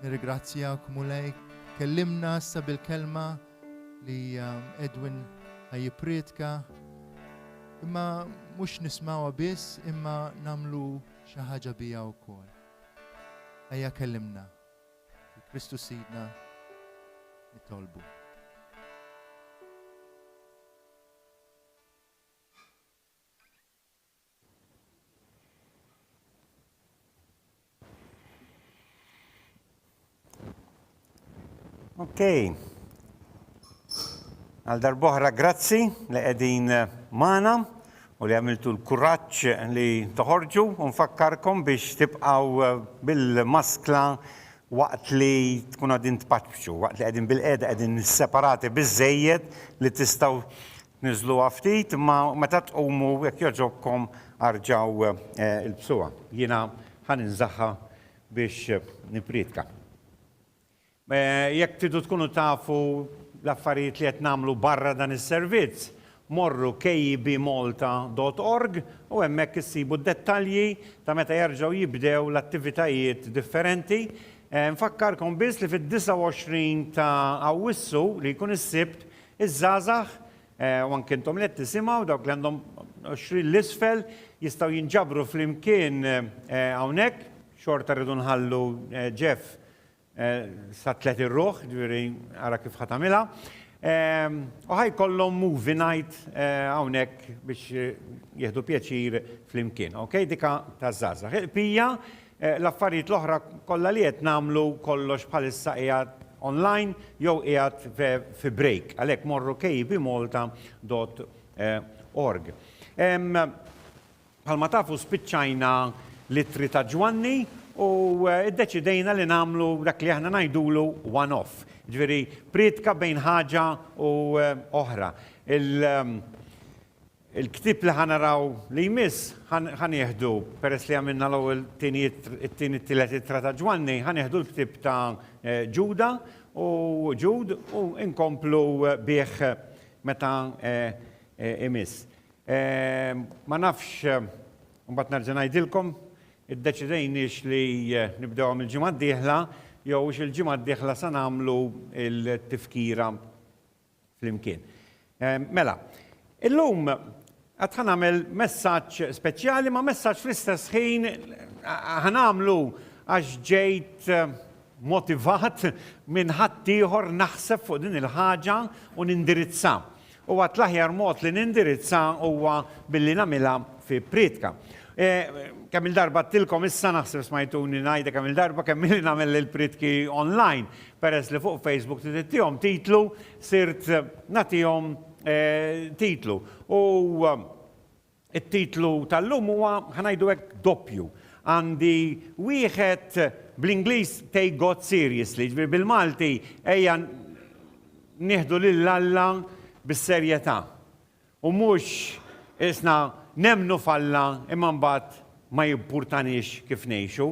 Nirrigrazzjak mulej, kellimna issa bil-kelma li um, Edwin ħajjiprietka. Imma mhux nismawha biss, imma namlu xi ħaġa biha wkoll. Ejja kellimna. Fi Kristu Sidna nitolbu. Ok. Għal darboħra grazzi li qegħdin eh, magħna u li għamiltu l-kuraġġ li toħorġu u nfakkarkom biex tibqgħu bil-maskla waqt li tkunu qegħdin tpaċċu, waqt li qegħdin bilqiegħda qegħdin separati biżżejjed li tistgħu tniżżluha ftit imma meta tqumu jekk jogħġobkom arġgħu ilbsuha. Jiena ħa ninżagħha biex nipprietka. Jekk tridu tkunu tafu l-affarijiet li qed nagħmlu barra dan is-servizz, morru KEBmalta dot org u hemmhekk issibu d-dettalji ta' meta jerġgħu jibdew l-attivitajiet differenti. Infakkarkom biss li fid-29 ta' Awwissu, li jkun is-Sibt, iż-żgħażagħ, u anke intom li qed tisimgħu, dawk li għandhom għoxrin 'l isfel, jistgħu jinġabru flimkien hawnhekk. Xorta rridu nħallu Jeff Sat-tliet ir-ruħ, ġifieri ara kif ħa tagħmilha. U ħa jkollhom movie night hawnhekk biex jieħdu pjaċir flimkien. Okej, dik taż-żgħażagħ. Il-bqija, l-affarijiet l-oħra kollha li qed nagħmlu kollox bħalissa qiegħed online jew qiegħed fi break. Għalhekk morru kbmalta.org. Bħalma tafu spiċċajna l-ittri ta' Ġwanni u ddeċidejna li nagħmlu dak li aħna ngħidulu one off, jiġifieri prietka bejn ħaġa u oħra. Il-ktieb li ħa naraw li jmiss ħa nieħdu, peress li għamilna l-ewwel tieni it-tieni t-tielet ittra ta' Ġwanni, ħa nieħdu l-ktieb ta' Ġuda u Ġud u nkomplu bih meta jmiss. Ma nafx, imbagħad nerġa' ngħidilkom, iddeċidejniex li nibdewha mill-ġimgħa d-dieħla jew hux il-ġimgħa d-dieħla sa nagħmlu l-tifkira flimkien. Mela, illum għad ħa nagħmel messaġġ speċjali ma' messaġġ fl-istess ħin ħa nagħmlu għax ġejt motivat minn ħaddieħor naħseb fuq din il-ħaġa u nindirizzha. U għad l-aħjar mod li nindirizza huwa billi nagħmilha fi prietka. Kemm il-darba għadtilkom issa, naħseb smajtuni ngħidha kemm il-darba, kemm milli nagħmel il-prietki online, peress li fuq Facebook trid ittihom titlu, sirt nagħtihom titlu. U. It-titlu tal-lum huwa, ħa ngħidu hekk, doppju. Għandi wieħed bl-Ingliż Take God Seriously, jiġifieri bil-Malti ejja nieħdu lil Alla bis-serjetà. U mhux isna nemmnu f'Alla imma mbagħad ma jimpurtaniex kif ngħixu.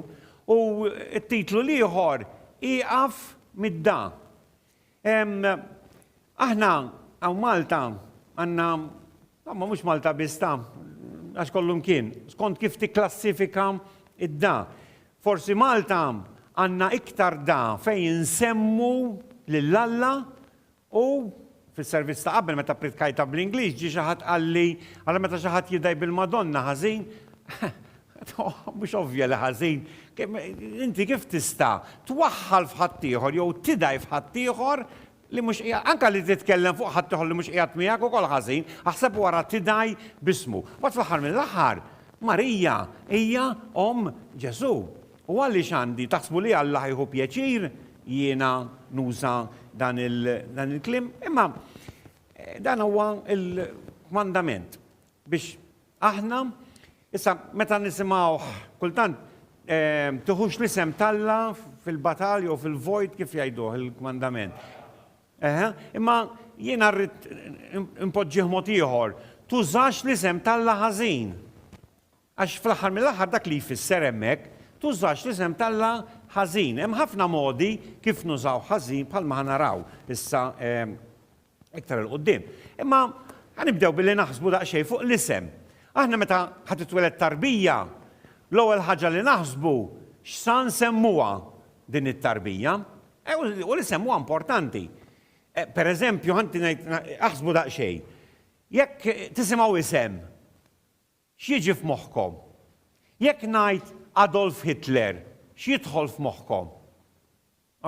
U t-titlu l-ieħor, Ieqaf mid-dagħa. Aħna hawn Malta għandna, ma mhux Malta biss ta' għax kollu mkien, skont kif tikklassifika id-da. Forsi Malta għandna iktar da fejn insemmu lil Alla u fis-servizz ta' qabel meta pritkajta bl-Ingliż ġie xi ħadd qalli, ara meta xi ħadd jidgħi bil-Madonna ħażin, Mhux ovvja li ħażin? Inti kif tista' twaħħal f'ħaddieħor jew tidgħi f'ħaddieħor li mhux qiegħed anke li titkellem fuq ħaddieħor li mhux qiegħed miegħek ukoll ħażin, aħseb wara tidgħi b'ismu. Mbagħad fl-aħħar mill-aħħar, Marija hija omm Ġesù. U għaliex għandi, taħsbu li Alla ħajħu pjaċir jiena nuża dan il-kliem? Imma dan huwa l-kmandament biex Aħna, issa meta nisimgħuh kultant, Tiħux l-isem t'Alla fil-batal jew fil-vojt kif jgħiduh il-kmandament. Eħe, imma jiena rrid inpoġġih mod ieħor, Tużax l-isem t'Alla ħażin. Għax fl-aħħar mill-aħħar dak li jfisser hemmhekk, Tużax l-isem t'Alla ħażin. Hemm ħafna modi kif nużawh ħażin bħalma ħa naraw issa iktar 'il quddiem. Imma ħa nibdew billi naħsbu daqsxejn fuq l-isem. Aħna meta ħa titweled tarbija, l-ewwel ħaġa li naħsbu x'sa nsemmuha din it-tarbija. U l-isem huwa importanti. Pereżempju, ħa ngħid aħsbu daqsxejn. Jekk tisimgħu isem, x'jiġi f'moħħkom? Jekk ngħid Adolf Hitler, x'jidħol f'moħħkom?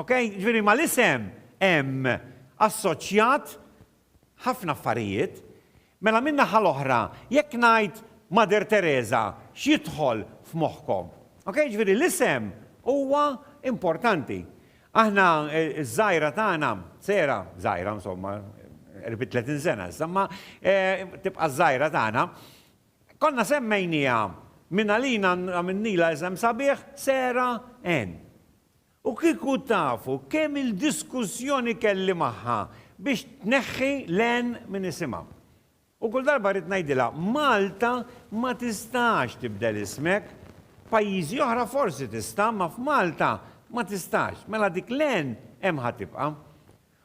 Ok, ġifieri mal-isem hemm assoċjat ħafna affarijiet. Mela min-naħa l-oħra, jekk ngħid Mother Teresa, x'jidħol f'moħħkom? Ok, ġifieri l-isem huwa importanti. Aħna ż-żgħira tagħna, Sera, żgħira insomma, qrib 30 sena issa, imma tibqa' ż-żgħira tagħna, konna semmejniha minn għalina għamilnilha isem sabiħ Sarah Ann. U kieku tafu kemm il-diskussjoni kelli magħha biex tneħħi l-N minn isimha. U kull darba rrid ngħidilha, Malta ma tistax tibdel ismek. F'pajjiżi oħra forsi tista', imma f'Malta ma tistax. Mela dik l-N hemm ħa tibqa'.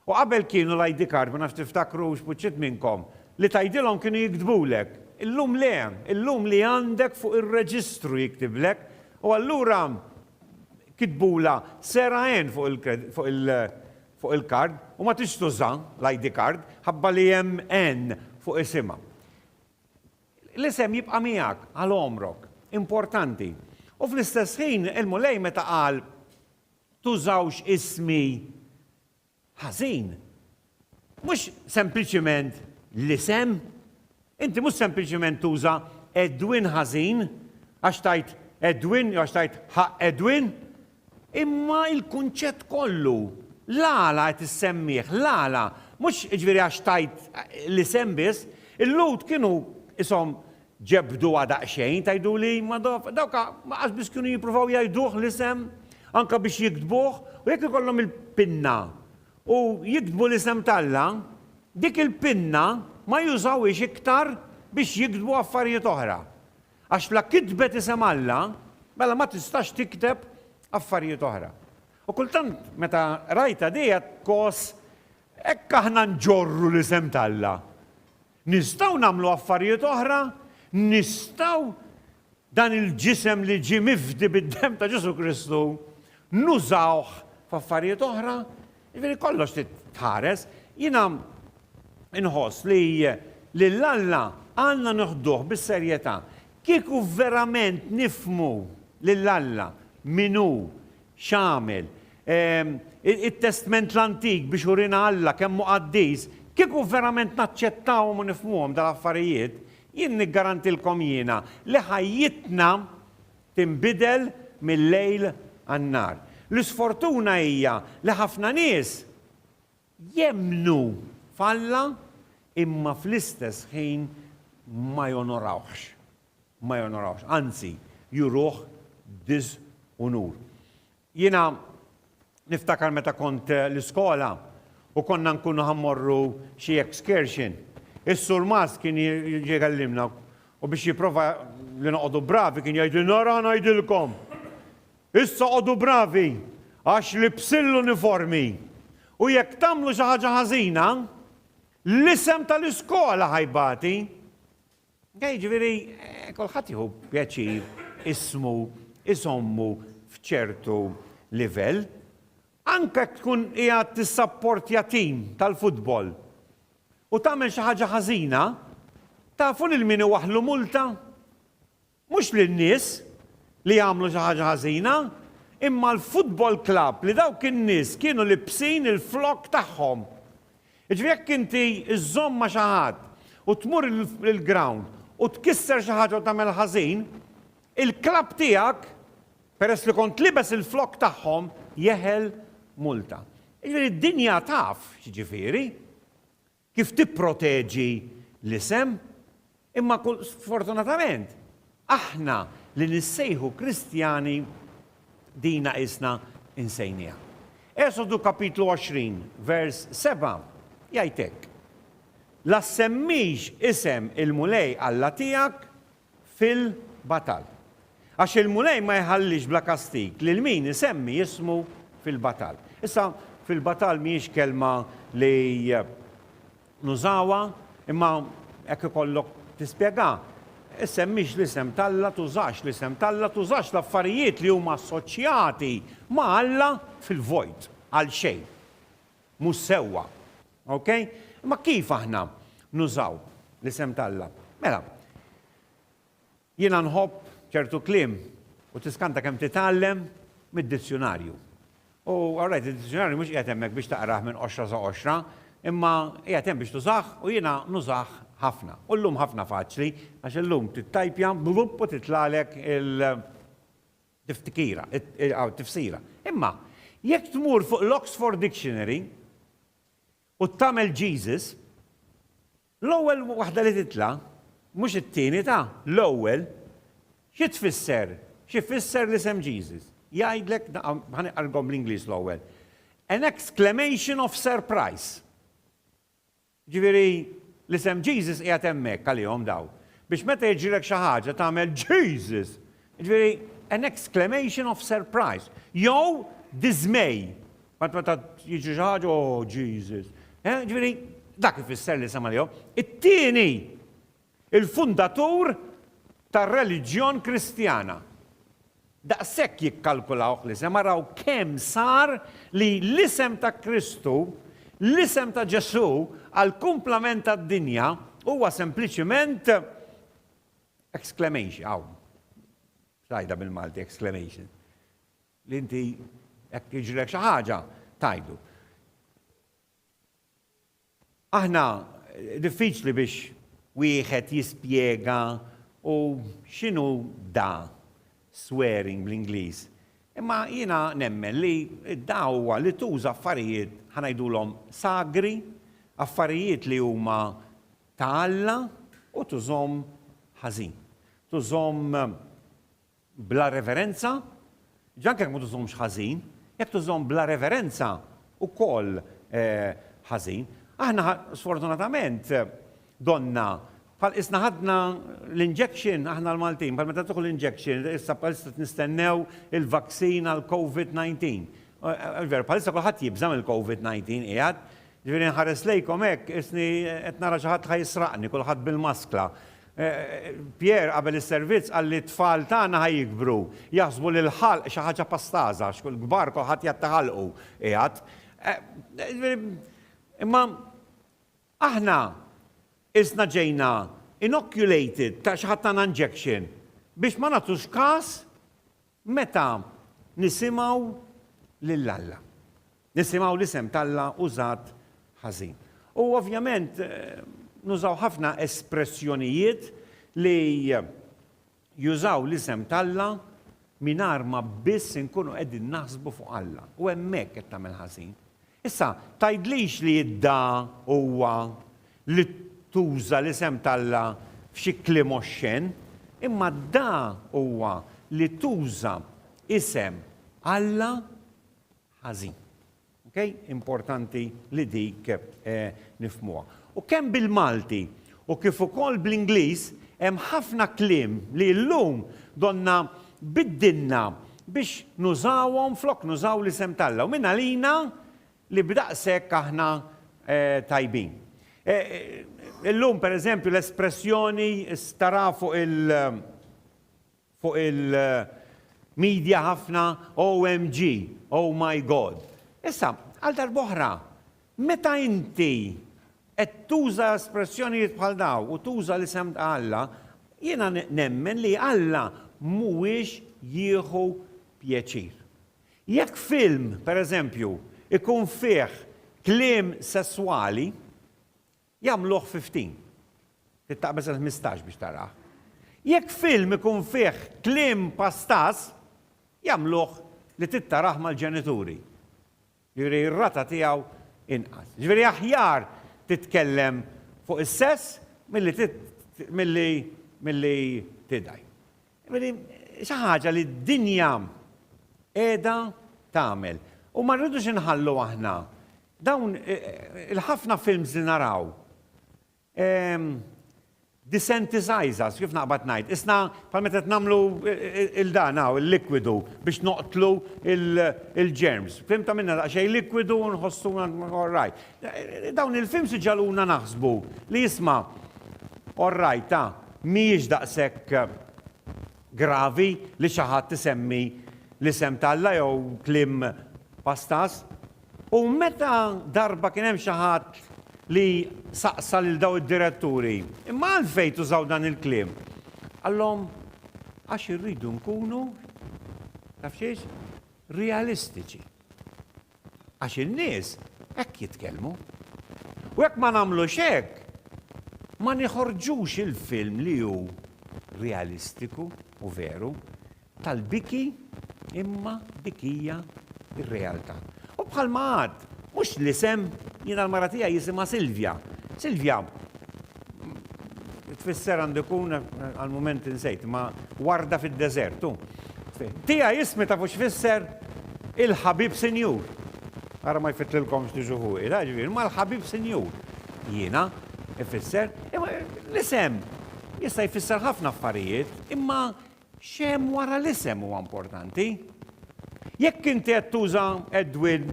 U qabel kienu l-ID card, ma nafx tiftakrux, b'uċċiet minnkom, li tgħidilhom kienu jiktbulek. Illum le, illum li għandek fuq ir-reġistru jiktiblek. U allura kitbulha Sarah Ann fuq il-kard u ma tridx tuża l-ID card ħabba li hemm Ann fuq isimha. L-isem jibqa' miegħek għal għomrok. Importanti. U fl-istess ħin il-Mulej meta qal, Tużawx ismi ħażin. Mhux sempliċement l-isem. Inti mhux sempliċement tuża Edwin ħażin għax tgħid Edwin jew għax tgħid ħaqq Edwin, imma l-kunċett kollu. L-għala qed issemmih, l-għala. Mhux jiġifieri għax tgħid l-isem biss. Il-Lhud kienu qishom Ġebbduha daqsxejn, tgħiduli, imma dawk qas biss kienu jippruvaw jgħiduh l-isem, anke biex jiktbuh, u jekk ikollhom il-pinna u jiktbu l-isem t'Alla, dik il-pinna ma jużawhiex iktar biex jiktbu affarijiet oħra. Għax la kitbet isem Alla, mela ma tistax tikteb affarijiet oħra. U kultant meta rajtha dejja tgħożż, hekk aħna nġorru l-isem t'Alla! Nistgħu nagħmlu affarijiet oħra? Nistgħu dan il-ġisem li ġie mifdi bid-demm ta' Ġesù Kristu nużawh f'affarijiet oħra? Jiġifieri kollox trid tħares. Jiena inħoss li lil Alla għandna noħduh bis-serjetà. Kieku verament nifhmu lil Alla min hu, X'għamel? Ehm, it-Testment l-Antik biex urina Alla kemm hu qaddis. Kieku verament naċċettawhom u nifhmuhom dal-affarijiet, jien niggarantilkom jiena li ħajjitna tinbidel mil-lejl għan-nhar. L-isfortuna hija li ħafna nies jemmnu f'Alla imma fl-istess ħin ma jonorawhx, ma jonorawhx, anzi juruh diżunur. Jiena niftakar meta kont l-iskola u konna nkunu ħa mmorru xi excursion, is-surmast kien jiġi jkellimna u biex jipprova li noqogħdu bravi kien jgħidilna ara ħa ngħidilkom! Issa qogħdu bravi, għax libsin l-uniformi, u jekk tagħmlu xi ħaġa ħażina, l-isem tal-iskola ħa jbati. Jiġifieri, kulħadd jieħu pjaċir ismu jżommu f'ċertu livell. Anke jekk tkun qiegħed tissapportja tim tal-futbol u tagħmel xi ħaġa ħażina, tafu lil min iwaħħlu multa? Mhux lin-nies li għamlu xi ħaġa ħażina, imma l-football club li dawk in-nies kienu libsin il-flokk tagħhom. Jiġifieri jekk inti żżomm ma' xi ħadd u tmur il-ground u tkisser xi ħaġa u tagħmel ħażin, il-club tiegħek, peress li kont libes il-flokk tagħhom, jeħel multa. Jiġifieri d-dinja taf x'jiġifieri. Kif tipproteġi l-isem? Imma sfortunatament, aħna li nissejħu Kristjani dina qisna insejnieha. Esodu kapitlu 20, vers 7 jgħid hekk, La ssemmix isem il-Mulej Alla tiegħek fil-batal. Għax il-Mulej ma jħallix bla kastig lil min isemmi ismu fil-batal. Issa, fil-batal mhijiex kelma li nużawha, imma jekk ikollok tispjegha, issemmix l-isem t'Alla, tużax l-isem t'Alla, tużax l-affarijiet li huma assoċjati ma' Alla fil-vojt, għalxejn. mhux sewwa. Okej? Imma kif aħna nużaw l-isem t'Alla? Mela, jiena nħobb ċertu kliem u tiskanta kemm titgħallem mid-dizzjunarju. U all right, id-dizzjunarju mhux qiegħed hemmhekk biex taqrah minn qoxra sa qoxra, imma qiegħed hemm biex tużah u jiena nużah ħafna. U llum ħafna faċli għax illum tittajpja blupp u titlagħlek il- Tiftkira, aw tifsira. Imma, jekk tmur fuq l-Oxford Dictionary u tagħmel Jesus, l-ewwel waħda li titla', mhux it-tieni ta', l-ewwel, xi tfisser, xi jfisser l-isem Jesus? Jgħidlek, ħa niqralkom bl-Ingliż l-ewwel, An exclamation of surprise. Jiġifieri, l-isem Jesus qiegħed hemmhekk għalihom daw, biex meta jiġrilek xi ħaġa tagħmel Jesus! Jiġifieri, an exclamation of surprise, jew diżmej, bħal meta jiġri xi ħaġa, oh, Jesus! Jiġifieri, dak ifisser l-isem għalihom. It-tieni, il-fundatur tar-reliġjon Kristjana. Daqshekk jikkalkulawh l-isem, araw kemm sar li l-isem ta' Kristu, l-isem ta' Ġesù għall-kumplament tad-dinja huwa sempliċiment exclamation, hawn, x'ngħidha bil-Malti exclamation? Li inti jekk jiġrilek xi ħaġa tgħidu. Aħna diffiċli biex wieħed jispjega u x'inhu da swearing bl-Ingliż, imma jiena nemmen li da huwa li tuża affarijiet ħa ngħidulhom sagri, affarijiet li huma ta' Alla u tużhom ħażin. Tużhom bla reverenza, ġa anke jekk ma tużhomx ħażin, jekk tużhom bla reverenza wkoll ħażin. Aħna sfortunatament donnha bħal qisna ħadna l-injection, aħna l-Maltin, bħal meta tieħu l-injection, issa bħalissa qed nistennew il-vaccine għall-Covid 19. Veru, bħalissa kulħadd jibża' mill-Covid 19 qiegħed. Ġifieri nħares lejkom hekk, qisni qed nara xi ħadd ħa jisraqni, kulħadd bil-maskla. Pierre qabel is-servizz qal li t-tfal tagħna ħa jikbru jaħsbu li l-ħalq xi ħaġa pastaża għax il-kbar kulħadd jgħid ta' ħalqu qiegħed. Imma aħna qisna ġejna inocculated ta' xi ħadd tana injection biex ma nagħtux kas Meta nisimgħu lil Alla, nisimgħu l-isem t'Alla użat ħażin. U ovvjament nużaw ħafna espressjonijiet li jużaw l-isem t'Alla mingħajr ma biss inkunu qegħdin naħsbu fuq Alla. U hemmhekk qed tagħmel ħażin. Issa, tgħidlix li idda huwa li tuża l-isem t'Alla f'xi kliem oxxen, imma dda huwa li tuża isem Alla ħażin. Ok? Importanti li dik nifhmuha. U kemm bil-Malti u kif ukoll bl-Ingliż, hemm ħafna kliem li llum donnha biddilna biex nużawhom flok nużaw l-isem t'Alla u min għalina li b'daqshekk aħna tajbin. Illum, pereżempju, l-espressjoni staraha fuq il. fuq il media ħafna OMG, oh my God. Issa, għal darb'oħra, meta inti qed tuża espressjonijiet bħal dawn u tuża l-isem ta' Alla, jiena nemmen li Alla mhuwiex jieħu pjaċir. Jekk film, pereżempju, ikun fih kliem sesswali, Jagħmluh fi ftin. Tittaqbeż għal ħmistax biex tarah. Jekk film ikun fih kliem pastaż, jagħmluh li trid tarah mal-ġenituri. Jiġifieri r-rata tiegħu inqas. Jiġifieri aħjar titkellem fuq is-sess milli milli milli tidgħi. Jiġifieri xi ħaġa li d-dinja qiegħda tagħmel. U ma rridux inħallu aħna Dawn il-ħafna films li naraw, disentisize us, kif naqbad ngħid, isna bħal meta qed nagħmlu il-dan hawn, il-likwidu biex noqtlu il-germs. Fim tagħmilna daqsxejn likwidu u nħossuna all right. Dawn il-films iġagħluna naħsbu li isma' all right ta' mhijiex daqshekk gravi li xi ħadd isemmi l-isem t'Alla jew kliem pastaż. U meta darba kien hemm xi ħadd li saqsa lil dawn id-diretturi, Imma għalfejn tużaw dan il-kliem? Qallhom, Għax irridu nkunu, taf xiex, realistiċi. Għax in-nies hekk jitkellmu. U jekk ma nagħmlux hekk, ma niħorġux il-film li hu realistiku u veru. tal-biki imma dik hija r-realtà. U bħalma għad, mhux l-isem, jiena l-mara tiegħi jisimha Silvja. Silvja tfisser għandu jkun għal mument insejt, ma warda fid-deżert. Tija jismi ta' fux fisser il-ħabib sinjur. Ara ma jfitlilkomx li ġuħu, il-ħagġvir, ma l-ħabib sinjur. Jina, ifisser, l-isem, jista jfisser ħafna affarijiet, imma X'hemm wara l-isem huwa importanti. Jekk inti qed tuża Edwin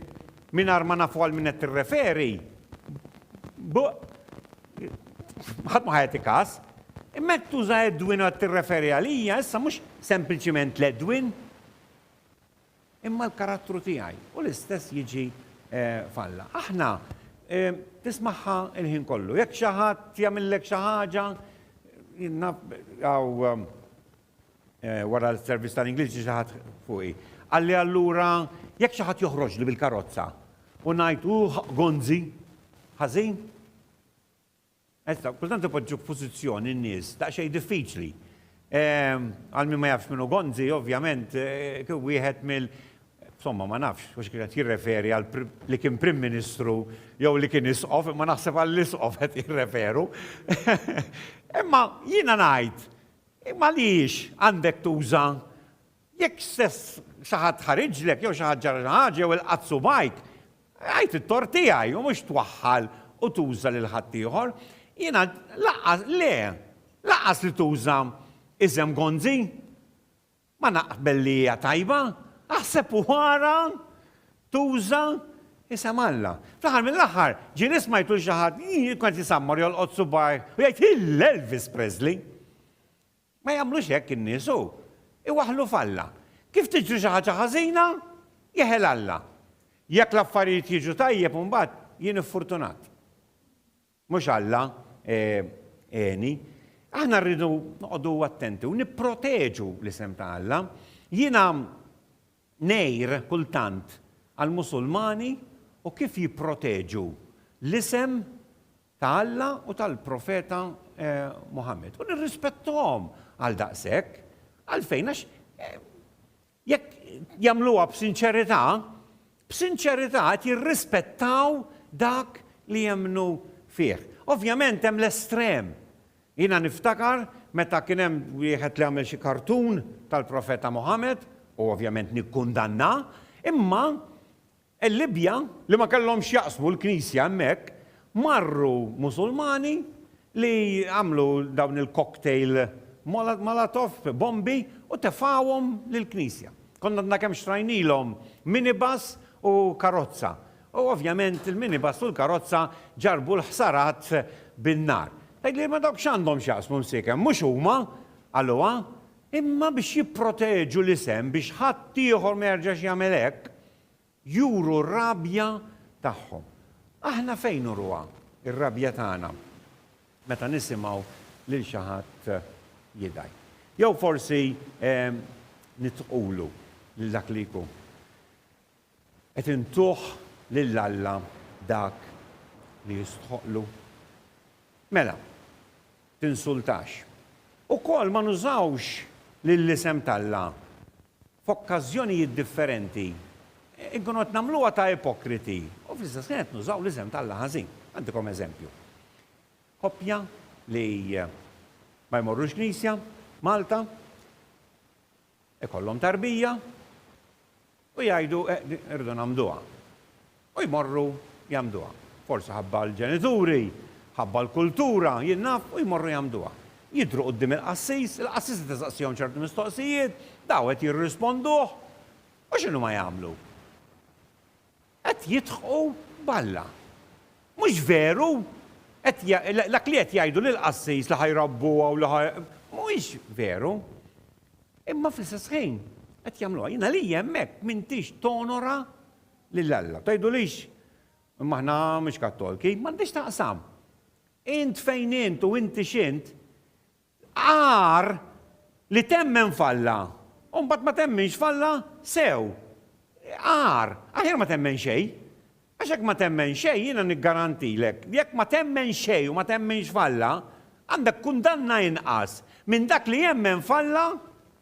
mingħajr ma nafu għal min qed tirreferi, ħadd ma ħa jagħti każ. Imma jekk tuża Edwin u qed tirreferi għalija, issa mhux sempliċiment l-Edwin. Imma l-karattru tiegħi u l-istess jiġi f'Alla. Aħna tismagħha l-ħin kollu. Jekk xi ħadd jagħmillek xi ħaġa, naf wara l-servizz tal-Ingliż xi ħadd fuqi. Qalli allura jekk xi ħadd joħroġli bil-karozza u ngħid hu gonzi, ħażin, Issa, kultant ipoġġu f'pożizzjoni n-nies daqsxejn diffiċli. Għal min ma jafx min hu Gonzi, ovvjament, kien wieħed mill-, insomma, ma nafx hux kien qed jirreferi għal li kien Prim Ministru jew li kien Isqof, imma naħseb għall-Isqof qed jirreferu. Imma jiena ngħid, imma għaliex għandek tuża Jekk stess xi ħadd ħariġlek jew xi ħadd ġara xi ħaġa jew ilqat subgħajk, għid it-tort tiegħi u mhux twaħħal u tuża lil ħaddieħor. Jiena lanqas, le, lanqas li tuża isem Gonzi. Ma naqbel li hija tajba. Aħseb u ara tuża isem Alla. Fl-aħħar mill-aħħar, ġieli smajt lil xi ħadd, jien kont jisammar jolqot subgħajh u jgħid, Il-Elvis Presley! Ma jagħmlux hekk in-nies u. Iwaħħlu f'Alla. Kif tiġri xi ħaġa ħażina, jeħel Alla. Jekk l-affarijiet jiġu tajjeb imbagħad jien iffurtunat. Mhux Alla għeni. Aħna rridu noqogħdu attenti u nipproteġu l-isem ta' Alla. Jiena ngħir kultant għall-Musulmani u kif jipproteġu l-isem ta' Alla u tal-Profeta Muħammad. U nirrispettahom għal daqshekk. Għalfejn? Għax jekk jagħmluha b'sinċerità, b'sinċerità qed jirrispettaw dak li jemmnu fih. Ovvjament hemm l-estrem. Jiena niftakar meta kien hemm wieħed li għamel xi kartun tal-Profeta Muħammad, u ovvjament nikkundannah, imma Il-Libja, li ma kellhomx x'jaqsmu l-Knisja hemmhekk, marru Musulmani li għamlu dawn il-cocktail molotov, bombi, u tefgħuhom lill-Knisja. Kont għadna kemm xtrajnilhom minibus u karozza. U ovvjament il-minibus u l-karozza ġarrbu l-ħsarat bin-nar. Tgħidli, imma dawk x'għandhom x'jaqsmu msiekem? Mhux huma, qaluha, Imma biex jipproteġu l-isem biex ħadd ieħor ma jerġax jagħmel hekk, juru r-rabja tagħhom. Aħna fejn nuruha r-rabja tagħna? Meta nisimgħu lil xi ħadd jidgħi. Jew forsi nitqulu lil dak li jkun. Qed intuh lil Alla dak li jistħoqqlu? Mela, tinsultax. Ukoll ma nużawx lill-isem t'Alla f'okkażjonijiet differenti, inkunu qed nagħmluha ta' ipokriti u fl-istess ħin qed nużaw l-isem t'Alla ħażin. Ngħaddikom eżempju. Koppja li ma jmorrux knisja, Malta, Ikollhom tarbija u jgħidu irridu nagħmduha. U jmorru jagħmduha. Forsi ħabba l-ġenituri, ħabba l-kultura, jien naf, u jmorru jagħmduha. Jidhru quddiem il-qassis, il-qassis qed isaqsihom ċertu mistoqsijiet, daw qed jirrisponduh, u x'inhuma jagħmlu? Qed jidħqu b'Alla. Mhux veru? Qed dak li qed jgħidu lill-qassis li ħa jrabbuha u li ħa mhuwiex veru. Imma fl-istess ħin qed jagħmluha. Jien għalija hemmhekk m'intix tonora lil Alla. Tgħidulix imma aħna mhux Kattolki, m'għandhiex taqsam. Int fejn int u inti x'int, Agħar li temmen f'Alla u mbagħad ma temminx f'Alla sew. Agħar. Aħjar ma temmen xejn. Għax jekk ma temmen xejn, jiena niggarantilek li jekk ma temmen xejn u ma temminx f'Alla, għandek kundanna inqas minn dak li jemmen f'Alla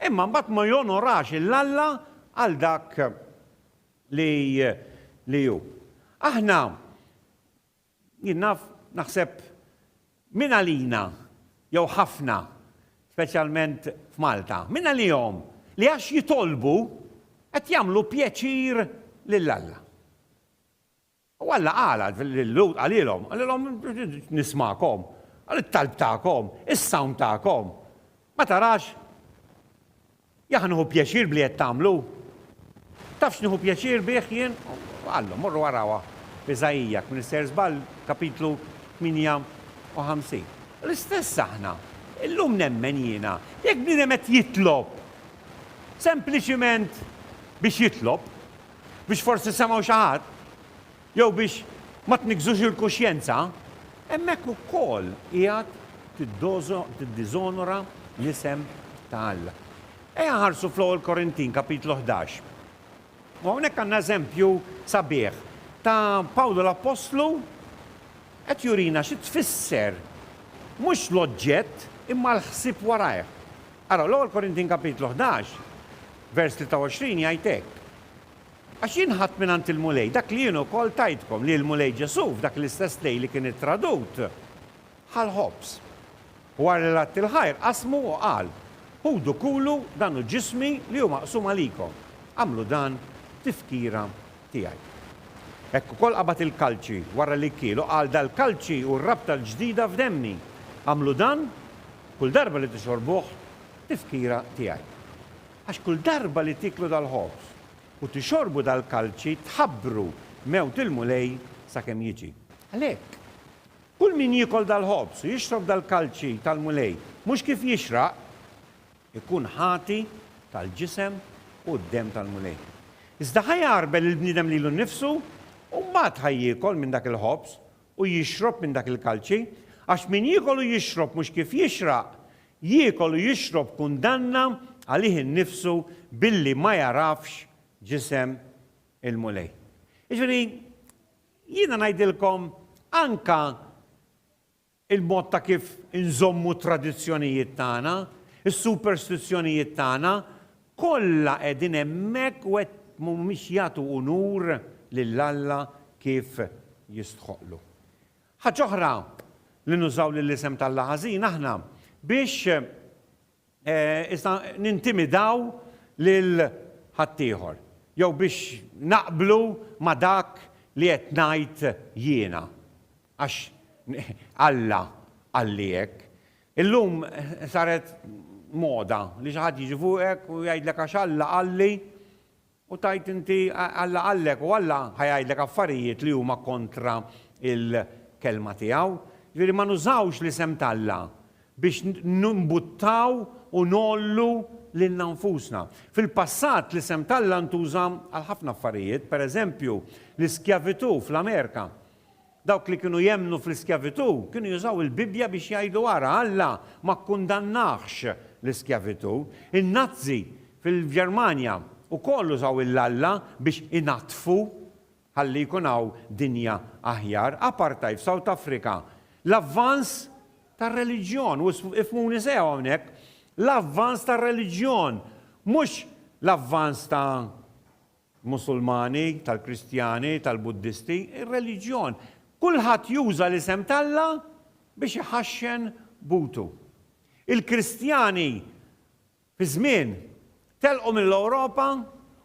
imma mbagħad ma jonorax 'il Alla għal dak li li hu. Aħna Jien naf, naħseb, min għalina, jew ħafna, speċjalment f'Malta, min għalihom li għax jitolbu qed jagħmlu pjaċir lil Alla. U Alla qal lil Lut qalilhom, qalilhom nismakom, għal it-talb tagħkom, is-sawm tagħkom. Ma tarax Jahh nieħu pjaċir b'li qed tagħmlu! Taf x'nieħu pjaċir bih jien? Qallu, morru arawha f'Iżaija, jekk m'nissejjer żball, kapitlu 58. L-istess aħna. Illum nemmen jiena, jekk bniedem qed jitlob sempliċiment biex jitlob, biex forsi semgħu xi ħadd, Jew biex ma tniggżux il-kuxjenza, hemmhekk ukoll qiegħed tiddiżonora l-isem ta' Alla. Ejja nħarsu fl-Ewwel Korintin, Kapitlu ħdax. U hawnhekk għandna eżempju sabiħ ta' Pawlu l-appostlu qed jurina xi tfisser mhux l-oġġett imma l-ħsieb warajh. Araw, l-Ewwel Korintin Kapitlu ħdax, vers 23 jgħid hekk, Għax jien ħadt mingħand il-Mulej dak li jien ukoll tajtkom, li l-Mulej Ġesù, f'dak l-istess lejl li kien ittradut, ħa l-ħobż, u wara li għadd il-ħajr, qasmu u qal, Ħudu kulu, dan hu ġismi li hu maqsum għalikom. Agħmlu dan f'tifkira tiegħi. Hekk ukoll qabad il-kalċi, wara li kiel, u qal, Dal-kalċi hu r-rabta l-ġdida f'demmi. Agħmlu dan, kull darba li tixorbuh, f'tifkira tiegħi. Għax kull darba li tieklu dal-ħobż u tixorbu dal-kalċi tħabbru mewt il-Mulej sakemm jiġi. Għalhekk, kull min jiekol dal-ħobż u jixrob dal-kalċi tal-Mulej mhux kif jixraq, ikun ħati tal-ġisem u d-demm tal-Mulej. Iżda ħa jagħrbel il-bniedem lilu nnifsu u mbagħad ħa jiekol minn dak il-ħobż u jixrob minn dak il-kalċi, għax min jiekol u jixrob mhux kif jixraq, Jiekol u jixrob kundanna għalih innifsu billi ma jagħrafx ġisem il-Mulej. Jiġifieri, jiena ngħidilkom anke il-mod ta' kif inżommu t-tradizzjonijiet tagħna, is-superstizzjonijiet tagħna, kollha qegħdin hemmhekk u qed mhumiex jagħtu unur lil Alla kif jistħoqqlu. Ħaġa oħra li nużaw lill-isem t'Alla ħażin aħna biex iżda nintimidaw lil ħaddieħor jew biex naqblu ma' dak li qed ngħid jiena għax Alla qalli hekk. Illum saret moda li xi ħadd jiġi fuqek u jgħidlek għax Alla qalli U tgħid inti, Alla qallek u Alla ħa jgħidlek affarijiet li huma kontra l-Kelma tiegħu. Jiġifieri ma nużawx l-isem t'Alla biex nimbuttaw u ngħollu lilna nfusna. Fil-passat l-isem t'Alla ntuża għal ħafna affarijiet, pereżempju l-iskjavitù fl-Amerika. Dawk li kienu jemmnu fl-iskjavitù kienu jużaw il-Bibbja biex jgħidu ara, Alla ma kkundannahx l-iskjavitù. In-Nazzi fil-Ġermanja wkoll użaw il-Alla biex inaddfu ħalli jkun hawn dinja aħjar. Apartheid f'South Africa. L-avvanz tar-reliġjon, u ifhmuni sew hawnhekk, l-avvanz tar-reliġjon, mhux l-avvanz ta' Musulmani, tal-Kristjani, tal-Buddisti, ir-reliġjon, kulħadd juża l-isem t'Alla biex iħaxxen butu. Il-Kristjani fi żmien telqu mill-Ewropa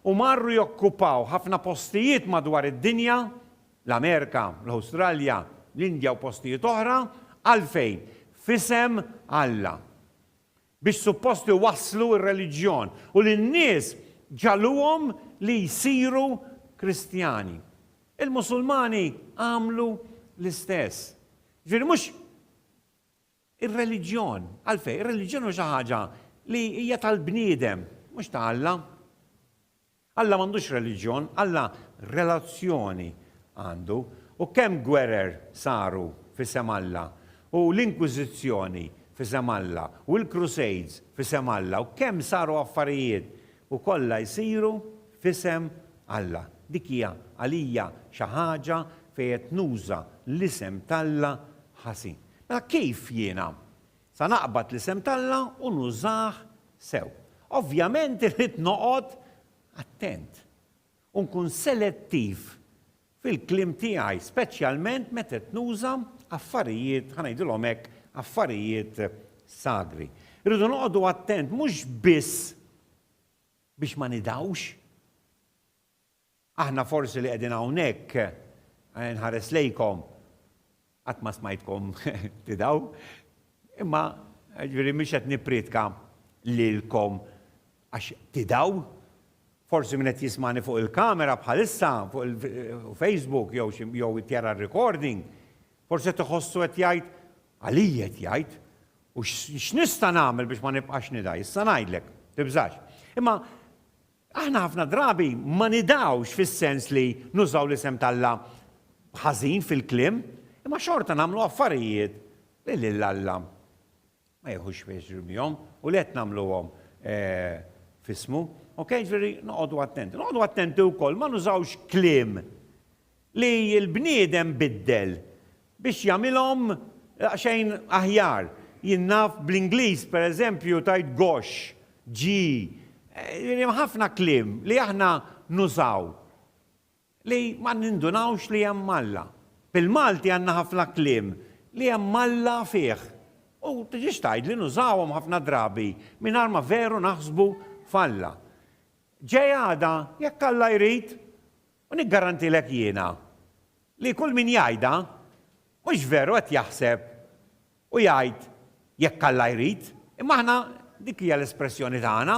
u marru jokkupaw ħafna postijiet madwar id-dinja, l-Amerika, l-Awstralja, l-Indja u postijiet oħra, għalfejn? F'isem Alla. biex suppost iwasslu r-reliġjon u lin-nies ġagħluhom li jsiru Kristjani. Il-Musulmani għamlu l-istess. Jiġifieri mhux ir-reliġjon, għalfejn? Ir-reliġjon hu xi ħaġa li hija tal-bniedem, mhux ta' Alla. Alla m'għandux reliġjon, Alla relazzjoni għandu. U kemm gwerer saru f'isem Alla, u l-Inkwiżizzjoni f'isem Alla, u l-Crusades f'isem Alla, u kemm saru affarijiet, u kollha jsiru f'isem Alla. Dik hija għalija xi ħaġa fejn qed nuża l-isem t'Alla ħażin. Mela kif jiena Sa naqbad l-isem t'Alla u nużah sew. Ovvjament irrid noqgħod attent u nkun selettiv fil-kliem tiegħi, speċjalment meta qed nuża affarijiet, ħa ngħidilhom hekk, affarijiet sagri. Irridu noqogħdu attent mhux biss biex ma nidgħux, Aħna forsi li qegħdin hawnhekk, nħares lejkom, qatt ma smajtkom tidgħu, imma, jiġifieri mhux qed nipprietka lilkom għax tidgħu. Forsi min qed jismagħni fuq il-kamera bħalissa, fuq il-Facebook jew xi jew qed jara r-recording, forsi qed iħossu qed jgħid, Għalija qed jgħid? U x'nista' nagħmel biex ma nibqax nidgħi? Issa ngħidlek, tibżax. Imma Aħna ħafna drabi ma nidgħux fis-sens li nużaw l-isem t'Alla ħażin fil-kliem, imma xorta nagħmlu affarijiet li lil Alla ma jiħux pjaċir bihom u li qed nagħmluhom f'ismu. Okej, jiġifieri noqogħdu attenti. Noqogħdu attenti wkoll ma nużawx kliem li l-bniedem biddel biex jagħmilhom daqsxejn aħjar. Jien naf bl-Ingliż, per eżempju, tgħid gosh, gee, hemm ħafna kliem li aħna nużaw li ma nindunawx li hemm Alla. Bil-Malti għandna ħafna kliem li hemm Alla fih u tiġix tgħid li nużawhom ħafna drabi mingħajr ma veru naħsbu f'Alla. Ġej għada, jekk Alla jrid, U niggarantilek jiena li kull min jgħidha mhux veru qed jaħseb u jgħid jekk Alla jrid, imma aħna dik hija l-espressjoni tagħna,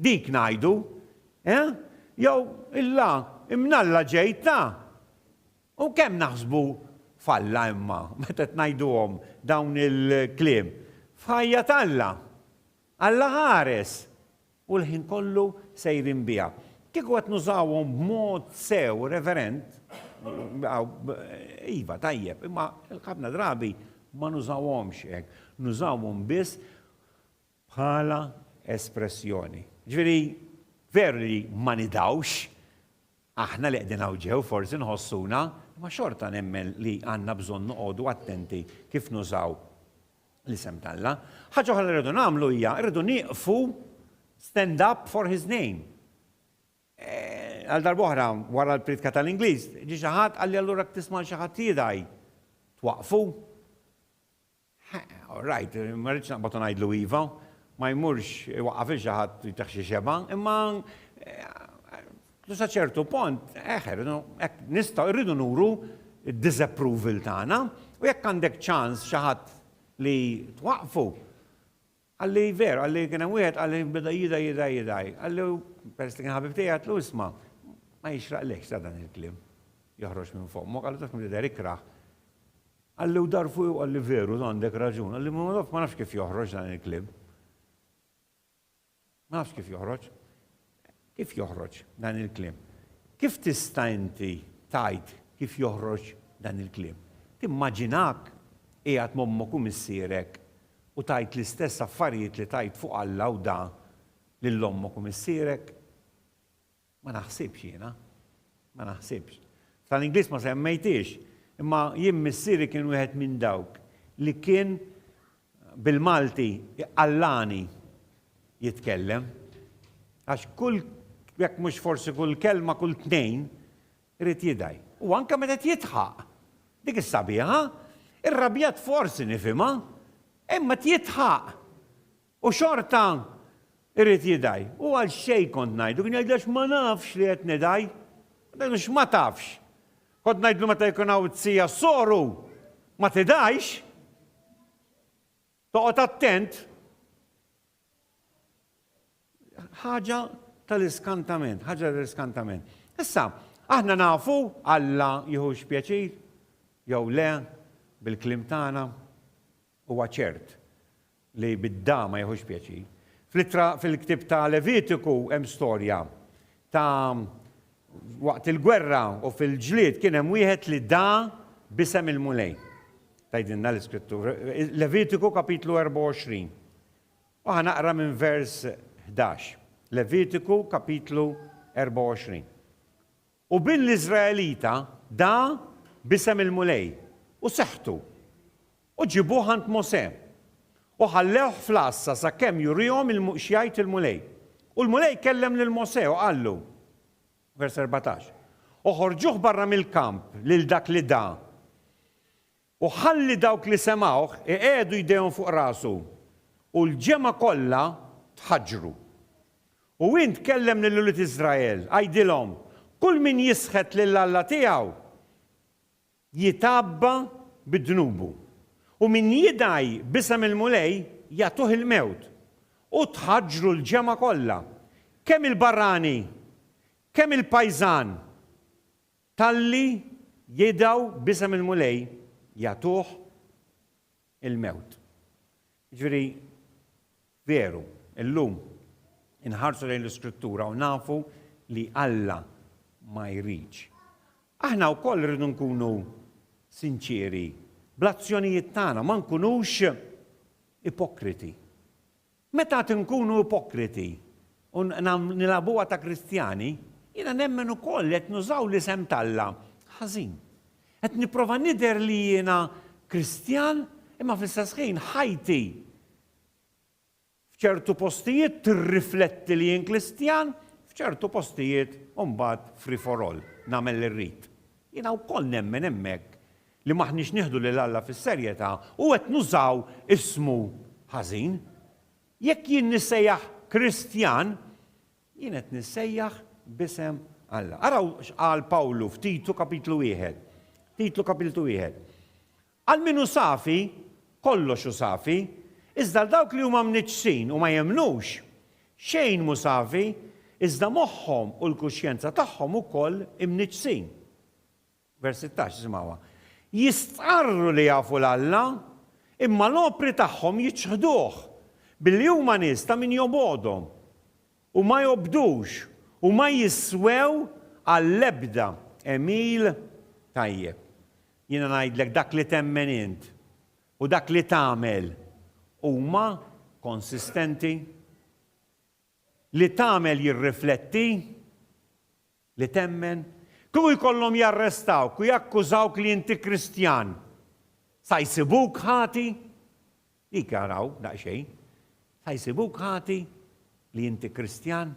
dik ngħidu, eh? Jew illa imnalla ġejtna! U kemm naħsbu f'Alla imma meta qed ngħiduhom dawn il-kliem? F'ħajja t'Alla! Alla ħares! U l-ħin kollu sejrin biha. Kieku qed nużawhom b'mod sew, reverend, iva, tajjeb, imma ħafna drabi ma nużawhomx hekk. Nużawhom biss bħala espressjoni. Ġifieri, veru li ma nidhawx, aħna li qegħdin hawn ġew forsi nħossuna, imma xorta nemmen li għandna bżonn noqogħdu attenti kif nużaw l-isem t'Alla. Ħaġa oħra li rridu nagħmlu hija rridu nieqfu stand up for his name. Għal darb'oħra wara l-priedka tal-Ingliż, ġie xi ħadd qal li allura tisma' lil xi ħadd jidgħi twaqqfu? All right, ma rridx naqbad u ngħidlu iva, ma jmurx iwaqqaf lil xi ħadd jtih xi xebgħa, imma U sa ċertu pont, eħ, irridu, hekk, nistgħu, irridu nuru d-disapproval tagħna, u jekk għandek ċans xi ħadd li twaqqfu, qalli, veru, qalli, kien hemm wieħed qalli beda jidgħi, jidgħi, jidgħi, qalli, peress li kien ħabib tiegħi, għedtlu, isma', ma jixraqlekx tara dan il-kliem joħroġ minn fommok, qalli, taf minn jidher ikrah. Qalli, u dar fuqi u qalli, veru, għandek raġun, qalli, ma nafx kif joħroġ dan il-kliem. Ma nafx kif joħroġ. Kif joħroġ dan il-kliem? Kif tista' inti tgħid kif joħroġ dan il-kliem? Timmaġinak qiegħed ma' ommok u missierek u tgħid l-istess affarijiet li tgħid fuq Alla u da lil ommok u missierek? Ma naħsibx jiena. Ma naħsibx. F'tal-Ingliż ma semmejthiex, imma jien missieri kien wieħed minn dawk li kien bil-Malti iqallagħni jitkellem. Għax kull, jekk mhux forsi kull kelma, kull tnejn irid jidgħi. U anke meta qed jidħaq. Dik is-sabiħa. Irrabjat forsi nifhimha, imma qed jidħaq. U xorta irid jidgħi. U għalxejn kont ngħidlu, kien jgħidli għax ma nafx li qed nidgħi. Kont ngħidlu x'ma tafx? Kont ngħidlu meta jkun hawn t-sija s-soru, ma tidgħix. Toqgħod attent. Ħaġa tal-iskantament, ħaġa tal-iskantament. Issa, aħna nafu Alla jieħux pjaċir jew le bil-kliem tagħna. Huwa ċert li bid-dagħa ma jieħux pjaċir. Fl-ittra fil-ktieb ta' Levitiku hemm storja ta' waqt il-gwerra u fil-ġlied kien hemm wieħed li dagħa b'isem il-Mulej, tgħidilna l-Iskrittura. Levitiku kapitlu 24. U ħa naqra minn vers 11. Levitiku kapitlu 24. U bin l-Iżraelita dagħa b'isem il-Mulej, u seħħtu, u ġibuh għand Mosè, u ħallewh fl-għassa sakemm jurihom x'jgħid il-Mulej. U l-Mulej kellem lil Mosè u qallu, vers 14, Oħorġuh barra mill-kamp lil dak li da, U ħalli dawk li semgħuh iqiegħdu jdejhom fuq rasu. U l-ġemgħa kollha tħaġġru. U int kellem lil ulied Iżrael, għidilhom, Kull min jisħet lil Alla tiegħu, jitgħabba bi dnubu. U min jidgħi b'isem il-Mulej, jagħtuh il-mewt. U tħaġġru l-ġemgħa kollha, kemm il-barrani, kemm il-pajżan. Talli jidgħu b'isem il-Mulej jagħtuh il-mewt. Jiġifieri, veru, illum inħarsu lejn l-Iskrittura u nafu li Alla ma jridx. Aħna wkoll irridu nkunu sinċieri bl-azzjonijiet tagħna, ma nkunux ipokriti. Meta għad inkunu ipokriti u nilgħabuha ta' Kristjani, jiena nemmen ukoll li qed nużaw l-isem t'Alla ħażin. Qed nipprova nidher li jiena Kristjan imma fl-istess ħin ħajti f'ċertu postijiet tirrifletti li jien Kristjan, f'ċertu postijiet u mbagħad free for all, nagħmel li rrid. Jiena wkoll nemmen hemmhekk li m'aħniex nieħdu lil Alla fis-serjetà u qed nużaw ismu ħażin. Jekk jien nissejjaħ Kristjan, jien qed nissejjaħ b'isem Alla. Araw x'qal Pawlu f'Titu kapitlu wieħed. Titlu kapitlu wieħed. Għal min hu safi, kollox hu safi, iżda għal dawk li huma mniġġsin u ma jemmnux, xejn mhu safi, iżda moħħhom u l-kuxjenza tagħhom ukoll imniġġsin. Vers 16, ismgħuha. Jistqarru li jafu 'l Alla, imma l-opri tagħhom jiċħduh, billi huma nies ta' min jobgħodhom, u ma jobdux, u ma jiswew għall-ebda għemil tajjeb. Jiena ngħidlek, dak li temmen int, u dak li tagħmel, huma konsistenti? Li tagħmel jirrifletti? li temmen, kieku jkollhom jarrestawk u jakkużawk li inti Kristjan, sa jsibuk ħati? Dik, araw, daqsxejn. Sa jsibuk ħati li inti Kristjan?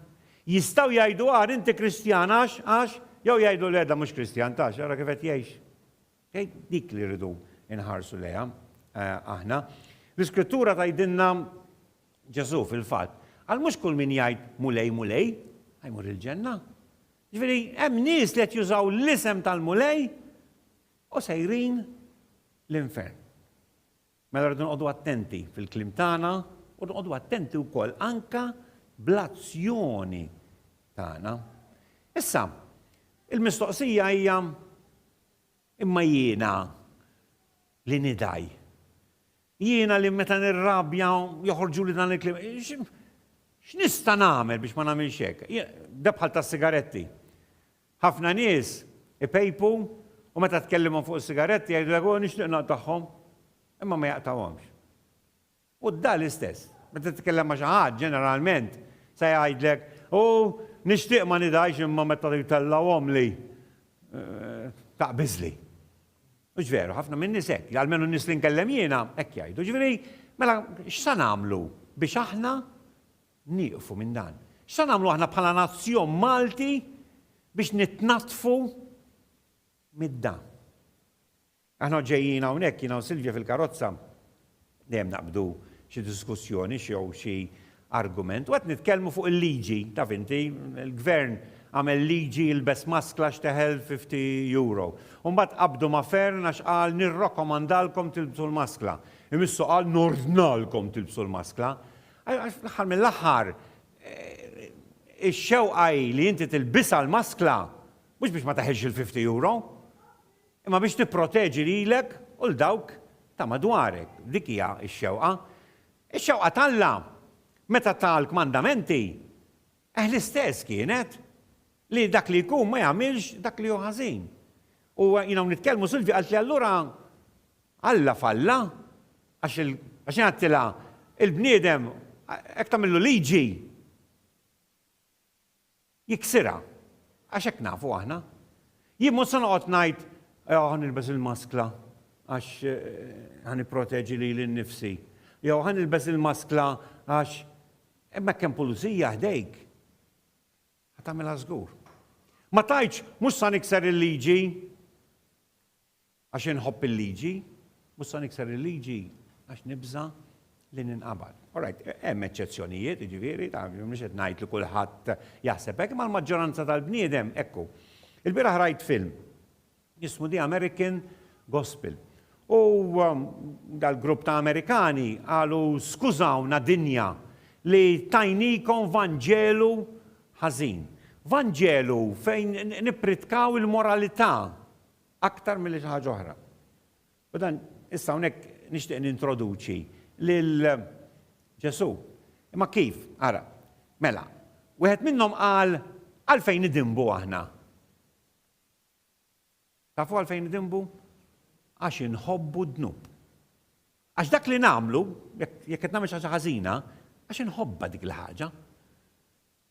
Jistgħu jgħidu agħar inti Kristjan għax, għax, jew jgħidu le da mhux Kristjan, tarax, ara kif qed jgħix. Okej? Dik li rridu nħarsu lejha aħna. L-Iskrittura tgħidilna Ġesù, fil-fatt, qal mhux kull min jgħid 'Mulej, Mulej' ħa jmur il-ġenna. Jiġifieri hemm nies li qed jużaw l-isem tal-Mulej u sejrin l-infern. Mela rridu noqogħdu attenti fil-kliem tagħna u noqogħdu attenti wkoll anke bl-azzjoni tagħna. Issa, il-mistoqsija hija Imma jiena li nidgħi. Jiena li meta nirrabja joħorġuli dan il-kliem. X'nista' nagħmel biex ma nagħmilx hekk? Da bħal tas-sigaretti. Ħafna nies ipejpu u meta tkellimhom fuq is-sigaretti jgħidulek, 'O nixtieq naqtagħhom', imma ma jaqtgħuhomx. U da l-istess. Meta titkellem ma' xi ħadd, ġeneralment, se jgħidlek, U nixtieq ma nidgħix imma meta jtellgħuhomli, taqbiżli. Mhux veru, ħafna min-nies hekk, almenu n-nies li nkellem jiena, hekk jgħidu. Ġifieri, mela x'se nagħmlu biex aħna nieqfu minn dan? X'se nagħmlu aħna bħala nazzjon Malti biex nitnaddfu mid-da? Aħna ġejjin hawnhekk, jiena u Silvia fil-karozza, dejjem naqbdu xi diskussjoni jew xi argument, u qed nitkellmu fuq il-liġi, taf inti, il-Gvern għamel liġi ilbes maskla x'teħel fifty Euro. U mbagħad qabdu ma' Fearne għax qal nirrakkomandalkom tilbsu l-maskla. Imissu qal nordnalkom tilbsu l-maskla. Għax fl-aħħar mill-aħħar ix-xewqa hi li inti tilbisha l-maskla mhux biex ma teħilx il-fifty Euro. imma biex tipproteġi lilek u 'l dawk ta' madwarek. Dik hija x-xewqa. Ix-xewqa t'Alla, meta ta l-kmandamenti, eh l-istess kienet, li dak li jkun ma jagħmilx dak li hu ħażin. U jien hawn nitkellmu, Silvia qaltli allura Alla falla għax għax jien għedtilha il-bniedem hekk tagħmillu liġi. jiksirha, għax hekk nafu aħna. Jien mhux se noqgħod ngħid, jew ħa nilbes il-maskla għax ħa nipproteġi lili nnifsi, jew ħa nilbes il-maskla għax imma jekk hemm pulizija ħdejk, ħa tagħmilha żgur. Ma tgħidx, mhux sa nikser il-liġi. Għax inħobb il-liġi, mhux se nikser il-liġi għax nibża' li ninqabad. All right, hemm eċċezzjonijiet, jiġifieri, mhux qed ngħid li kulħadd jaħseb hekk, imma l-maġġoranza tal-bniedem hekk hu. Ilbieraħ rajt film jismu The American Gospel. U dal-grupp ta' Amerikani qalu skużawna dinja li tajnikom vanġelu ħażin. Vanġelu fejn nippritkaw il-moralità Aktar milli xi ħaġa oħra. U dan, issa hawnhekk nixtieq nintroduċi lil Ġesù. Imma kif? Ara, mela, wieħed minnhom qal, Għalfejn nidinbu aħna? Tafu għalfejn nidinbu? Għax inħobbu d-dnub. Għax dak li nagħmlu, jekk qed nagħmel xi ħaġa ħażina, għax inħobbha dik il-ħaġa.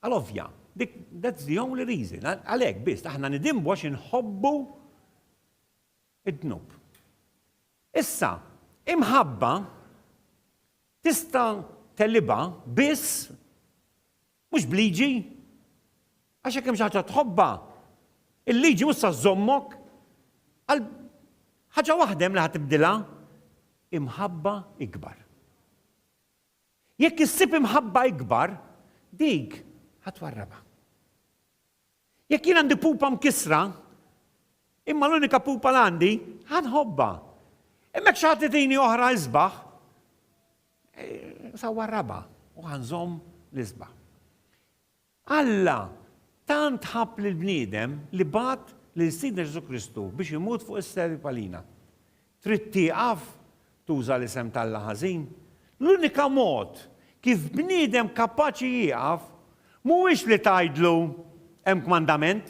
Għal ovvja. Dik, that's the only reason. Għalhekk biss. Aħna nidinbu għax inħobbu d-dnub. Issa, imħabba tista' tegħlibha biss mhux b'liġi. Għax jekk hemm xi ħaġa tħobbha, il-liġi mhux sa żżommok għal ħaġa waħda hemm li ħa tibdilha, imħabba ikbar. Jekk issib imħabba ikbar, dik ħa twarrabha. Jekk jien għandi pupa mkissra, imma l-unika pupa li għandi, ħa nħobbha. Imma jekk xi ħadd itini oħra isbaħ, eh, sa warrabha u ħa nżomm l-isbaħ. Alla tant ħabb lill-bniedem li bagħat lil Sidna Ġesù Kristu biex imut fuq is-selib għalina. Trid tieqaf tuża l-isem t'Alla ħażin? L-unika mod kif bniedem kapaċi jieqaf mhuwiex li tgħidlu, Hemm kmandament.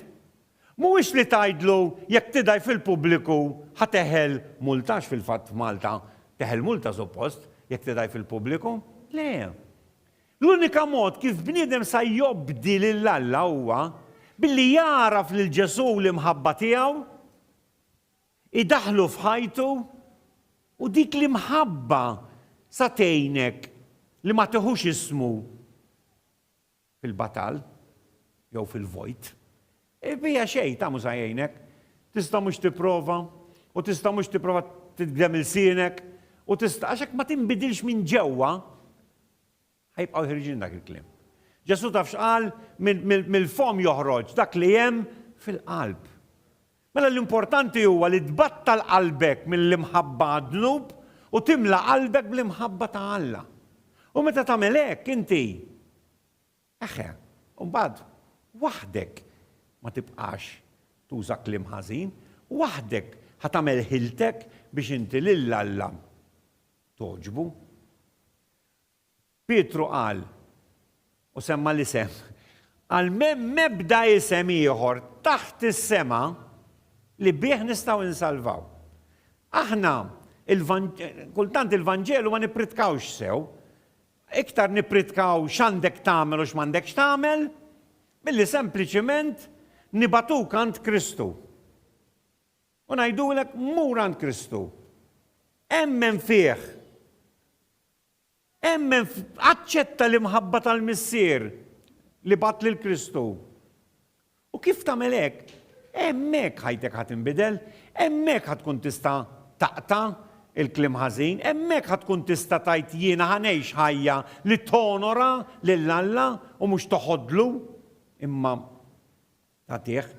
Mhuwiex li tgħidlu, Jekk tidgħi fil-pubbliku ħa teħel multa għax fil-fatt f'Malta teħel multa suppost jekk tidgħi fil-pubbliku. Le. L-unika mod kif bniedem sa jobdi lil Alla huwa billi jagħraf lil Ġesù u l-imħabba tiegħu, idaħħlu f'ħajtu, u dik l-imħabba sa tgħinek li ma tiħux ismu fil-batal jew fil-vojt. Bija xejn ta' mhux sa jgħinek. Tista' mhux tipprova u tista' mhux tipprova titgdem ilsienek u tista' għax hekk ma tinbidilx minn ġewwa, Ħa jibqgħu ħerġin dak il-kliem. Ġesù taf x'qal? Mill-fomm joħroġ dak li hemm fil-qalb. Mela l-importanti huwa li tbattal qalbek mill-imħabba għad-dnub u timla qalbek bl-imħabba ta' Alla. U meta tagħmel hekk inti, eħe, imbagħad waħdek ma tibqax tuża kliem ħażin, waħdek ħa tagħmel ħiltek biex inti lil Alla togħġbu. Pietru qal, u semma l-isem, qal m'hemm ebda isem ieħor taħt is-sema li bih nistgħu insalvaw. Aħna kultant il-Vanġelu ma nippritkawx sew, iktar nippritkaw x'għandek tagħmel u x'm'għandekx tagħmel, milli sempliċiment nibagħtuk għand Kristu. U ngħidulek, mur għand Kristu. Emmen fih. Emmen, aċċetta l-imħabba tal-Missier li bat lil Kristu. U kif tagħmel hekk? Hemmhekk ħajtek ħadd inbidel, hemmhekk ħadd tkun tista' taqta' il-kliem ħażin, hemmhekk ħadd tkun tista' tgħid jiena ħa ngħix ħajja li tonora lil Alla u mhux toħodlu, imma tagħtih,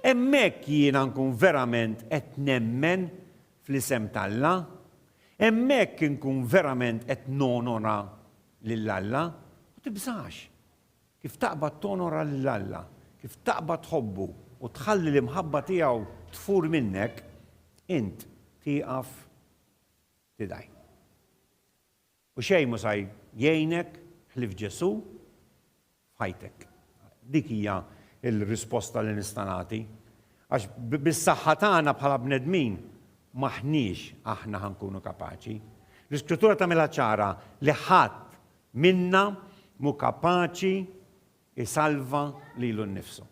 hemmhekk jiena nkun verament qed nemmen fl-isem t'Alla, hemmhekk inkun verament qed nonora lil Alla. Ma tibżax. Kif taqbad tonora lil Alla, kif taqbad tħobbu u tħalli l-imħabba tiegħu tfur minnek, int tieqaf tidgħi. U xejn mhu sa jgħinek ħlief Ġesù f'ħajtek. Dik hija l-risposta li nista' nagħti. Għax bis-saħħa tagħna bħala bnedmin m'aħniex aħna ħa nkunu kapaċi. L-Iskrittura tagħmilha ċara li ħadd minna mhu kapaċi jsalva lilu nnifsu.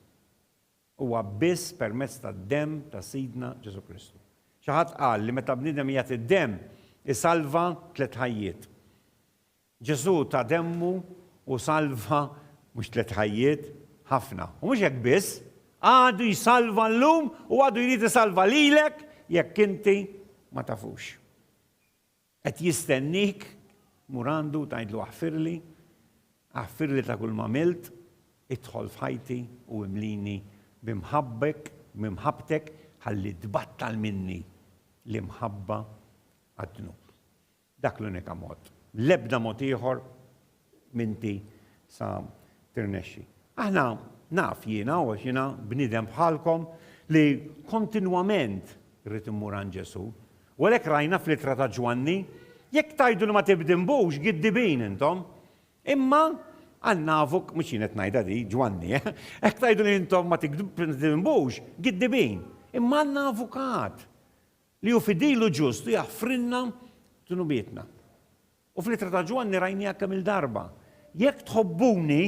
Huwa biss permezz tad-demm ta' Sidna Ġesù Kristu. Xi ħadd qal li meta bniedem jagħti d-demm, isalva tliet ħajjiet. Ġesù ta demmu u salva mhux tliet ħajjiet, ħafna. U mhux hekk biss, għadu jsalva llum u għadu jrid isalva lilek jekk inti ma tafux. Qed jistenniek, mur għandu u tgħidlu aħfirli, aħfirli ta' kull m'għamilt, idħol f'ħajti u imlini b'imħabbek, b'imħabbtek ħalli tbattal minni l-imħabba għad-dnub. Dak l-unika mod. L-ebda mod ieħor minti sa tirnexxi. Aħna, naf jiena, għax jiena bniedem bħalkom, li kontinwament rrid immur għand Ġesù. U għalhekk rajna fl-ittra ta' Ġwanni, Jekk tgħidu li ma tibdinbux, giddibin intom. Imma għal nafuk, mhux jien qed ngħidha di, Ġwanni, eh, hekk tgħidu li intom ma tibdinbux, giddibin. Imma għandna avukat li hu fidilu ġust u jaħfrilna dnubietna. U fl-Ittra ta' Ġwanni rajniha kemm-il darba, Jekk tħobbuni,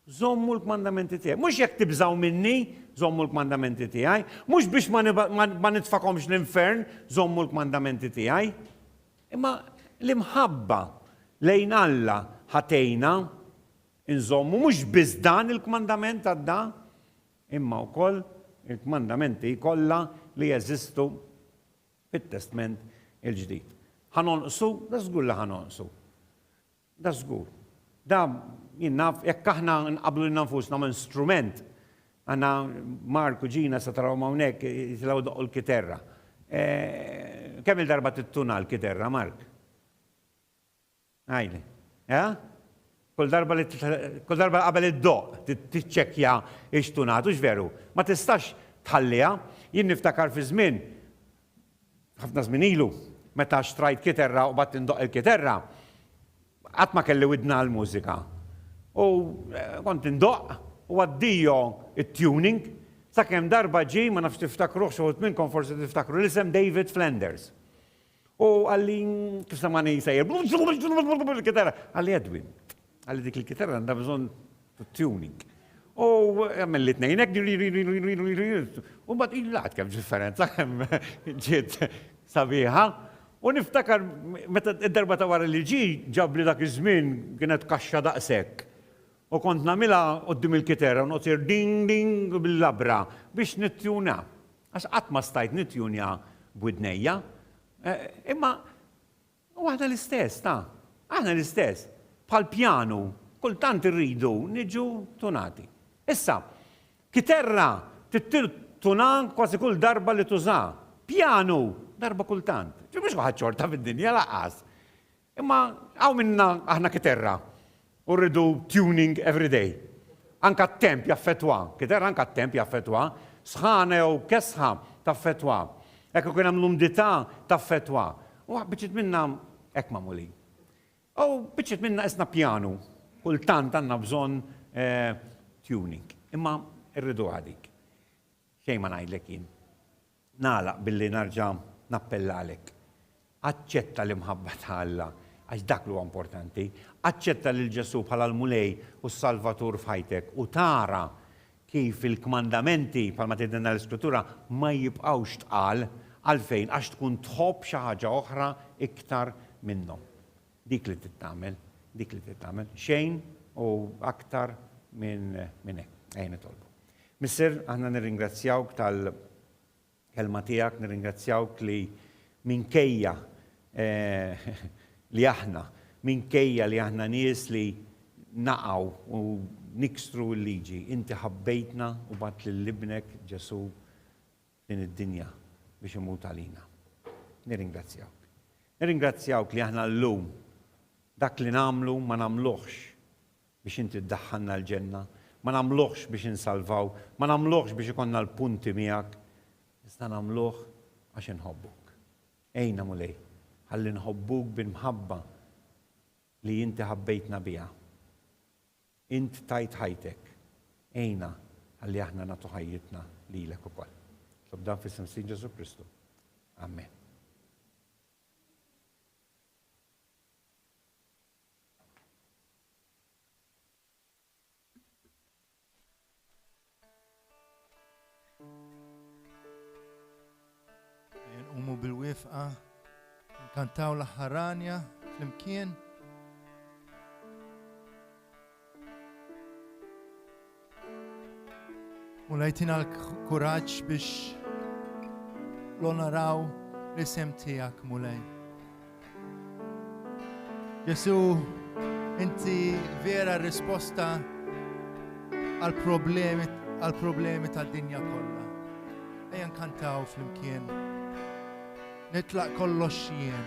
żommu l-kmandamenti tiegħi. Mhux jekk tibżgħu minni, żommu l-kmandamenti tiegħi. Mhux biex ma nitfakomx l-infern, żommu l-kmandamenti tiegħi. Imma l-imħabba lejn Alla ħa tgħinna nżommu mhux biss dan il-kmandament għadda, imma wkoll il-kmandamenti kollha li jeżistu bit-Testment il-Ġdid. Ħa nonqsu? Dażgur li ħa nonqsu. Dażgur. Da jien naf jekk aħna nqabblu lilna nfusna minn strument, għandna Mark u Ġina se tarawhom hawnhekk jitilgħu jdoqqu l-kiterra. Kemm-il darba tittuna l-kiterra, Mark? Ngħidlek. Eh? Kull darba li kull darba qabel iddoqq tiċċekkja x tonat, hux veru? Ma tistax tħalliha. Jien niftakar fi żmien, ħafna żmien ilu, meta xtrajt kiterra u qbadt indoqq il-kiterra, qatt ma kelli widna għall-mużika. U kont indoqq u addio t-tuning, sakemm darba ġie, ma nafx tiftakruhx, xi wħud minnkom forsi tiftakru l-isem David Flanders. U għalli, kif samani jisajr, kitara, għalli Edwin, għalli dik il-kitara għandha bżonn tuning. U għamil li t-nejnek, u bat il-lat kem differenza, kem ġiet sabiħa. U niftakar, meta id-darba ta' wara li ġi, ġabli dak iż-żmien kienet kaxxa daqshekk. U kont nagħmilha qudiem il-kitara u noqgħod ding ding bil-labra biex nittjuna. Għax qatt ma stajt nittjunja b'widnejja. Imma u aħna l-istess, ta? Aħna l-istess. Bħal pjanu, kultant irridu niġu tunati. Issa, kiterra tittir tuna kważi kull darba li tużaha. Pjanu, darba kultant. Ġifieri mhux kulħadd xorta fid-dinja, lanqas. Imma hawn minna aħna kiterra u rridu tuning every day. Anka t-temp jaffettwa. Kiterra anka t-temp jaffettwa. Sħana jew kesħa taffettwa. Jekk ikun hemm l-umdità taffettwa. U biċċiet minna hekk magħmulin. U biċċiet minna qisna pjanu. Kultant għandna bżonn tuning. Imma rriduha dik. Xejn ma ngħidlek jien. Nagħlaq billi nerġa' nappella għalik. Aċċetta l-imħabba ta' Alla, għax dak li huwa importanti. Aċċetta lil Ġesù bħala l-Mulej u s-Salvatur f'ħajtek u tara kif il-kmandamenti, bħalma tgħidilna l-Iskrittura, ma jibqgħux tqal. Għalfejn? Għax tkun tħobb xi ħaġa oħra iktar minnhom. Dik li trid tagħmel, dik li trid tagħmel, xejn u aktar minn hekk. Ejja nitolbu. Missier, aħna nirringrazzjawk tal-kelma tiegħek, nirringrazzjawk li minkejja eh, li aħna, minkejja li aħna nies li naqaw u nikstru l-liġi, inti ħabbejtna u bat lil ibnek Ġesu din id-dinja biex imut għalina. Nirringrazzjawk. Nirringrazzjawk li aħna llum dak li nagħmlu ma nagħmluhx biex inti ddaħħalna l-ġenna, ma nagħmluhx biex insalvaw, ma nagħmluhx biex ikollna l-punti miegħek, iżda nagħmluh għax inħobbuk. Għinna Mulej, ħalli nħobbuk bil-mħabba li inti ħabbejtna biha. Int tajt ħajtek. Għinna ħalli aħna nagħtu ħajjitna lilek ukoll. Nitlob dan f'isem s-Sid Ġesù Kristu. Amen. Nqumu bil-wifqa, nkantaw l-ħaranja flimkien. U lajtina l-kuraġġ biex l-onaraw l-isem tiegħek mulej. Ġesu, inti vera risposta għal problemi għal problemi tad-dinja kollha. Ejja nkantaw flimkien. Nitlaq kollox jien.